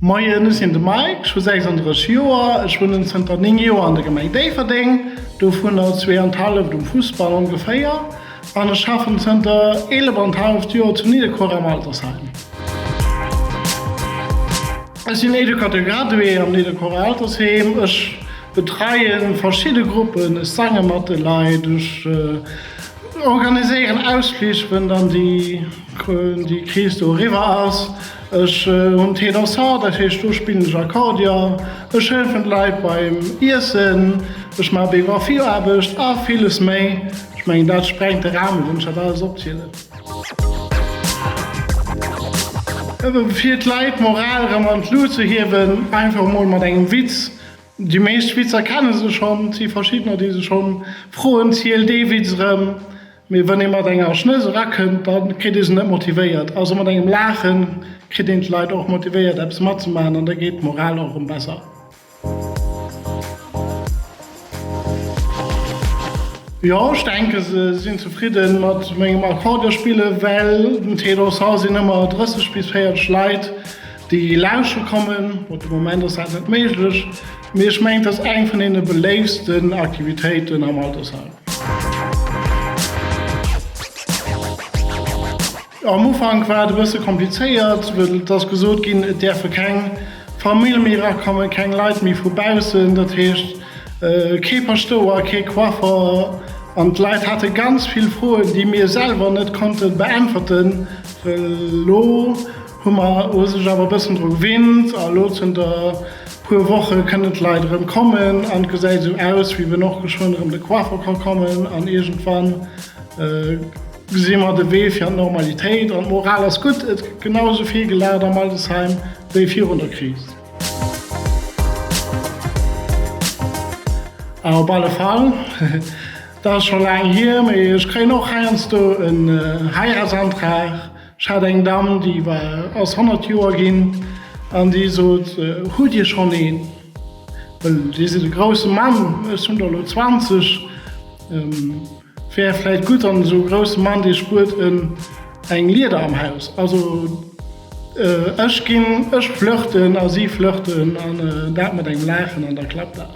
Moien, ech sinn de Mike, ech hu 36 Joer. Ech wunnen zënter 9 Joer an der Gemeng Déifferdeng, dovunner zwee an d'Halleft um Fussball ongeféier, an ech schaffen zënter 11 an d'Halleft Joer zu Nidderkuer am Altersheim. Ech sinn Educateur gradué am Nidderkuerer Altersheem. Ech betreie verschidde Gruppen, ech sange mat de Leit, ech. organiséieren Ausflich wën dann déi Kris do eriwwer ass, ech hunn d' Ténor Sax, dat heescht do spillen ech Akkordeon, ech hëllefen d' Leit beim Iessen, ech maache Biografieaarbecht a villes méi. Ech mengen dat sprengt de Ramen, wann ech dat alles opzielen. Fir d' Leit d'Moral rëm an d' Luut ze hiewen, einfach emol mat engem Witz. Déi meescht Witzer kenne se schonn. Et si verschiddener, déi se schonn froen, Ziel dee Witz erëm. Mee wann ee mat enger Schnëss erakënnt, da kritt ee se net motivéiert. Also mat engem Laache kritt een d'Leit och motivéiert, eppes matzemaachen an da geet d'Moral och erëm besser. Jo, ech denke se sinn zefridde mat mengem Akkordeonspillen, well den Ténor Sax sinn ëmmer 30 bis 40 Leit. Déi lauschteren kommen. Op de Moment ass dat net méiglech, mee ech mengen et ass eng vun deene beléiftsten Aktivitéiten am Altersheim. Am Ufank war et e bësse komplizéiert, well et ass gesot ginn, et däerfe keng Famill méi erakommen, keng Leit méi vu baussen, dat heescht kee Paschtouer, kee Coiffer. An d'Leit hate ganz vill Froen, déi mir selwer net konnte beäntwerten, well elo, Hu mer u sech awer e bëssen dru gewinnt a elo zënter puer Woche kënnen d'Leit erëm kommen an et gesäit esou aus, wéi wenn och geschwënn erëm de Coiffer ka kommen an iergendwann gesi mer de Wee fir an d'Normalitéit. An d'Moral ass gutt, et gëtt genau esou vill gelaacht am Altersheim wéi virun der Kris. A op alle Fall, dat ass scho laang hier, mee ech kréien och heiansdo en Heiratsantrag. Ech hat eng Dame, déi war ass 100 Joer ginn an déi sot, hutt Dir schonn een? Well Dir sidd e grousse Mann, ech hunn der elo 20. Et wär vläicht gutt an esou e grousse Mann, dee spuert eng Lieder am Haus. Also ech ginn, ech flirten a si flirten an dat mat engem Laachen an da klappt dat.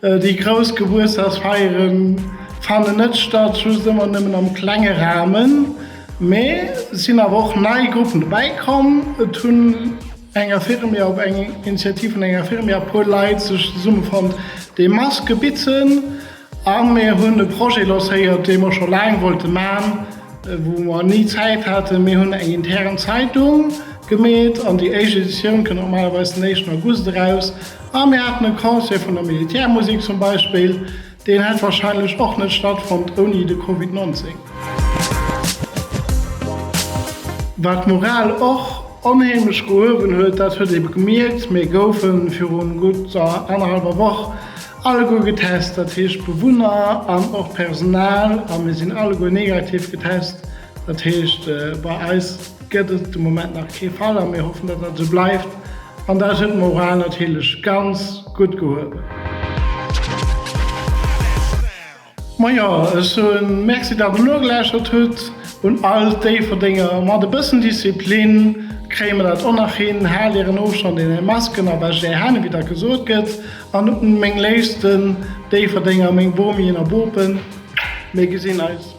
Déi grouss Gebuertsdagsfeiere fannen net statt, just ëmmer nëmmen am klenge Rahmen. Mee et sinn awer och nei Gruppen dobäi komm. Et hunn eng Infirmière, op eng Initiativ vun enger Infirmière, e puer Leit sech zesummefonnt, déi Maske bitzen. A mir hunn e Projet lancéiert, dee mer scho laang wollte man, wou mer ni Zäit haten. Mir hunn eng intern Zeitung gemeet an déi éischt Editioun kënnt normalerweis den éischten August eraus. A mir haten e Concert vun der Militärmusek zum Beispill, deen hätt wahrscheinlech och net stattfonnt ouni de Covid 19. Wat d'Moral och onheemlech gehuewen huet, dat huet ee gemierkt, mir goufe viru gutt annerhallwer Woch alleguer getest, dat heescht d'Bewunner an och d'Personal, a mir sinn alleguer negativ getest. Dat heescht, bei eis gëtt et de Moment nach kee Fall a mir hoffen, datt dat esou bleift. An dat huet d'Moral natierlech ganz gutt gehuewen. Majo, ech soen Merci, datt der nogelauschtert hutt. Un all d'Déifferdenger, mat e bëssen Disziplin kréie mer dat och nach hin. Haalt ären Ofstand an är Masken a wäscht är Hänn, ewéi datt gesot gëtt. An un meng léifsten Déifferdenger, meng Bomien a Bopen, mir gesinn eis.